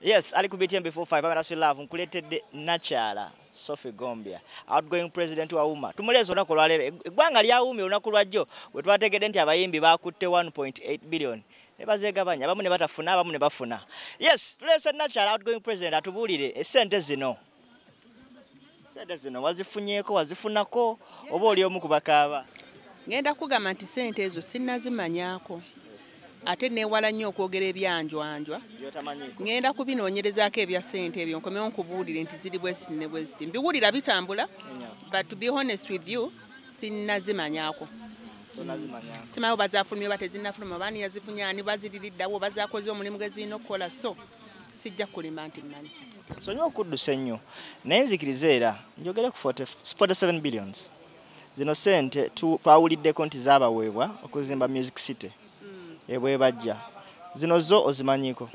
Yes, Ali ku BTM before 5 abana swe love nkuletedde nakyala Sophie Gombia outgoing president wa UMA tumulezo onako lwa lero egwanga lya UMA onako lwa jjo we twategede nti abayimbi bakutte 1.8 billion ne bazegabanya abamu ne batafuna abamu ne bafuna yes tulese nakyala outgoing president atubulire esente zino sente zino wazifunyeko wazifunako oba oli omu kubakaaba ngenda kugamba nti sente ezo sinazimanyako ate newala nnyo okwogera ebyanjwanjwa ngenda kubinoonyerezaako ebya sente ebyo nkomewo nkubuulire nti ziri bwesiti ne bwesiti mbiwulira bitambula but to be honest with you sinazimanyako simayo bazafulumye oba tezinafuluma oba niyazifunye ani baziririddawo oba zakoze omulimu gezirina okukola so sijja kulima nti mmanyi sonyiwa okuddusa ennyo naye nzikiriza era njogere ku 47 billions zino sente twawuliddeko nti zabaweebwa okuzimba music city hmm. ebwebajja zino zo ozimanyiko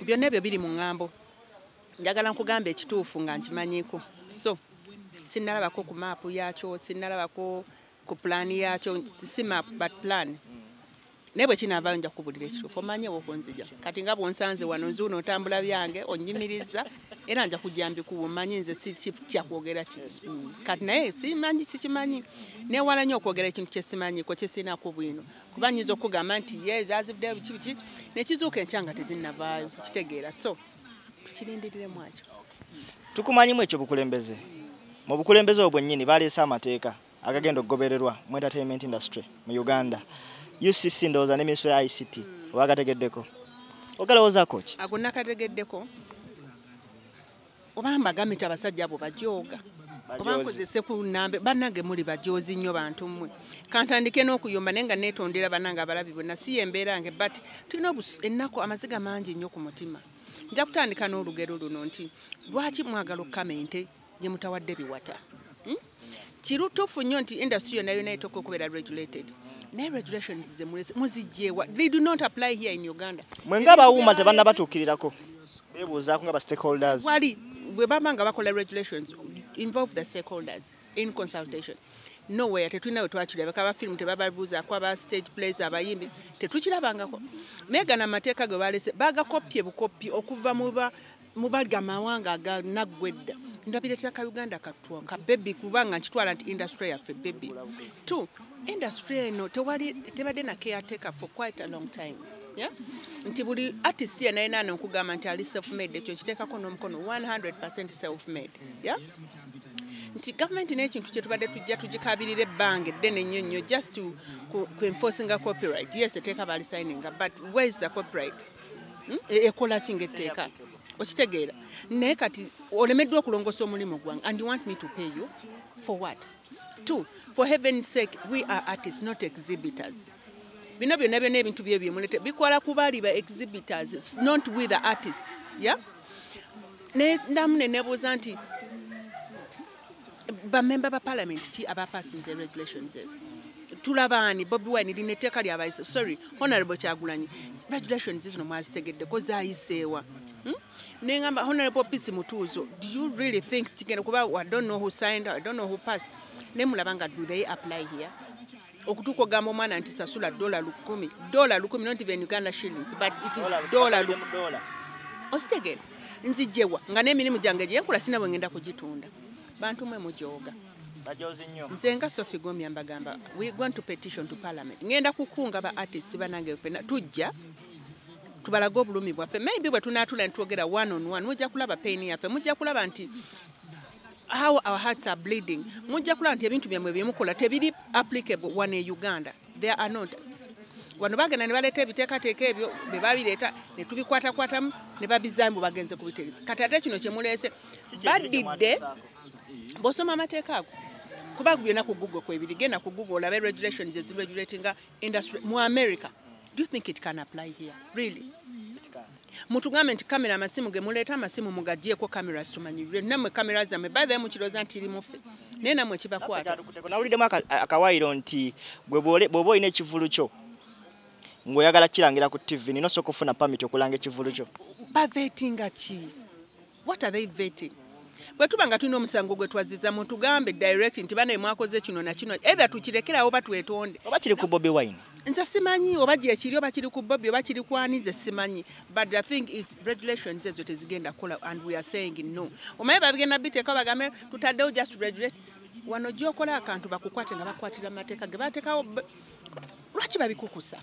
byonna ebyo biri mu ŋŋambo njagala nkugamba ekituufu nga nkimanyiko so sinnalabako ku maapu yaakyo sinnalabako ku pulaani yaakyo si maapu but pulaani naye bwe kinaavaayo nja kukubulira ekituufu omanye wokunzija kati nga bwonsanze wano nzuuno otambula byange onyimiriza era nja kujja mbikuwa omanyi nze sikitya kwogera ki mm. kati naye simanyi sikimanyi newala nyo okwogera ekintu kyesimanyiko kyesirinaku bwino kuba nyinza okugamba nti ye azivuddeyo biki biki nekizuuka enkya nga tezinnavaayo kitegeera so tukirindiriremu akyo tukumanyimu ekyo bukulembeze mu bukulembeze obwo bwennyini baleese amateeka agagenda okugobererwa mu entertainment industry mu uganda ucc ndowooza ne minisitule ya ict oba agategeddeko ogalowozako ki ago nakategeddeko oba mbagambye nti abasajja abo bajooga oba nkozese ku nambe banange muli bajoozi nnyo bantu mmwe kantandike n'okuyomba naye nga neetondera banange abalabi bonna si yembeera yange but tulina ennaku amaziga mangi nnyo ku mutima nja kutandika n'olugero luno nti lwaki mwagala okukamenta gye mutawadde biwata hmm? kirutuufu nnyo nti industry yonna yonna etoka okubeera regulated naye regulations ze muzijjeewa they do not apply here in uganda mwe nga bawuuma tebanna batuukirirako bebuuzaako nga ba stakeholders wali bwe baba nga bakola regulations involve the stakeholders in consultation nowhere tetulina we twakirabako abafirimu tebababuuzaako aba stage plays abayimbi tetukirabangako naye gana amateeka ge balese bagakoppye bukoppyi okuva muba mubali amawanga aga naggwedda ndabiretera ka uganda katwa ka bebi kubanga nkitwala nti industry yaffe bebi t industry eno tewali tebadde na caretaker for quite a long time Yeah? nti buli artist yena yena ano nkugamba nti ali self made ekyo kiteekako n'omukono 100 self made yeah? nti gavumenti n'ekintu kyetubadde tujja tugikabirira ebbanga eddene nnyo nnyo just ku enforcinga copyright yes eteeka bali signinga but where is the copyright hmm? e-, ekola ki ngaetteeka okitegeera naye kati olemeddwa okulongosa omulimu gwange and you want me to pay you for what two for heaven sake we are artists not exhibitors bino byonna byona ebintu bye byemulete bikwala kubali ba exhibitors not we the artists ya yeah? ne ndamu ne nebuuza nti bamemba ba palamenti ki abapasinze regulations ezo tulabaani bobi wine lina etteeka lyabayise sorry honorable kyagulanyi regulations zino mwazitegeddeko zayiseewa hmm? nengamba honorable pisi mutuuzo do you really think kigenda kuba i don't know who signed i don't know who passed nemulaba nga do they apply here okutuuka ogamba omwana nti sasula dola lukumi dola lukumi not even uganda shillings but it is dola lukumi okitegera nzijewa nga n'emirimu gyange gyenkula sina bwe ngenda kugitunda bantu mwe mujooga nze nga sofi gomya mbagamba we going to petition to parliament ngenda kukunga ba artists banange fena tujja tubalage obulumi bwaffe maybe bwe tunaatula ne twogera one on one mujja kulaba paini yaffe mujja kulaba nti how our hearts are bleeding mujja kulaba nti ebintu byammwe byemukola tebiri applicable wano e uganda there are not wano bagenda ne baleeta ebiteekateeka ebyo be babireeta ne tubikwatakwatamu ne babizaamu bwe bagenze kubitereza kati ate kino kye muleese badidde bw'osoma amateeka ago kuba byonna ku google kwebiri genda ku google olabe regulations eziregulatinga industry mu america do you think it can apply here really mutugambe nti kamera amasimu ge muleeta amasimu mugagyeko kamera situmanyirire namwe kamera zammwe bathe mukiroza nti iri mufe naye namwe kibakwatnawuliddemu akawaayiro nti bwoba olina ekivulu kyo ng'oyagala kirangira ku tv nina osooka okufuna pamiti okulanga ekivulu kyo bavetinga ki what are they vetting bwe tuba nga tulina omusango gwe twazziza mu tugambe direct nti banaye mwakoze kino na kino ebya tukirekerawo oba twetonde oba kiri ku bobi wine nze simanyi oba gyekiri oba kiri ku bobi oba kiri kwani nze simanyi but the thing is regulations ezo tezigenda kukola and we are saying no omaye babigenda biteeka bagambe tutaddewo just regulate wano gyokola akantu bakukwate nga bakwatira mu mateeka ge batekawo lwaki babikukusa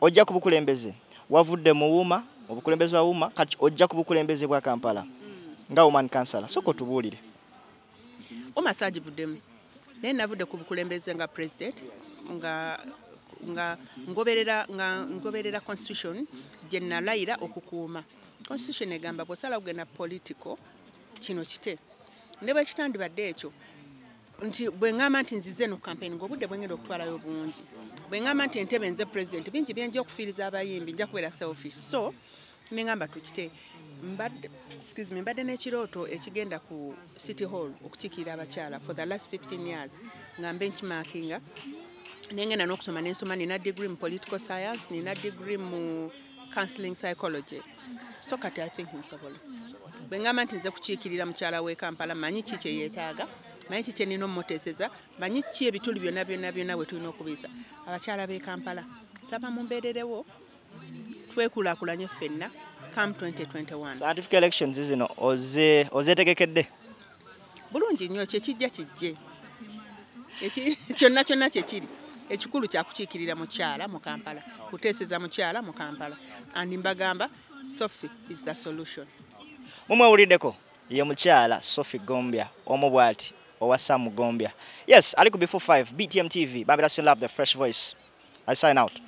ojja ku bukulembeze wavudde mu wuma obukulembeze wa wuma kati ojja ku bukulembeze bwa kampala nga woman kansala soka otubuulire wuma sagivuddemu naye navudde ku bukulembeze nga president nga nga ngoberera nga ngoberera constitution gye nalayira okukuuma constitution egamba bwosala kugenda political kino kite ne bwekitandibadde ekyo nti bwengamba nti nzize no campaign ngo budde bwengenda okutwalayo bungi bwengamba nti entebe nze president bingi byenje okufiiriza abayimbi nja kubeera selfish so nengamba tukite mbadde excuse me mbadde n'ekirooto ekigenda ku city hall okukikiira abakyala for the last 15 years nga mbe nkimakinga nengenda n'okusoma nensoma nina degree mu political science nina degree mu uh, counseling psychology so kati i think nsobola bwe ngamba nti nze kukiikirira mukyala w'e kampala manyi ki kye yeetaaga manyi ki kyenina omuteeseza manyi ki ebituli byonna byonna byonna bwe tulina okubiyisa abakyala b'e kampala saba mumbeererewo twekulakulanye ffenna come 2021 scientific elections zino ozeetegekedde bulungi nnyo kyekijja kijje kyonna kyonna kyekiri ekikulu kyakukiikirira mukyala mu kampala kuteeseza mukyala mu kampala and mbagamba sophie is the solution mumwewuliddeko ye mukyala sophie gombya omu bwati owa sam gombya yes ali ku before 5 btm tv babirasio love the fresh voice i sign out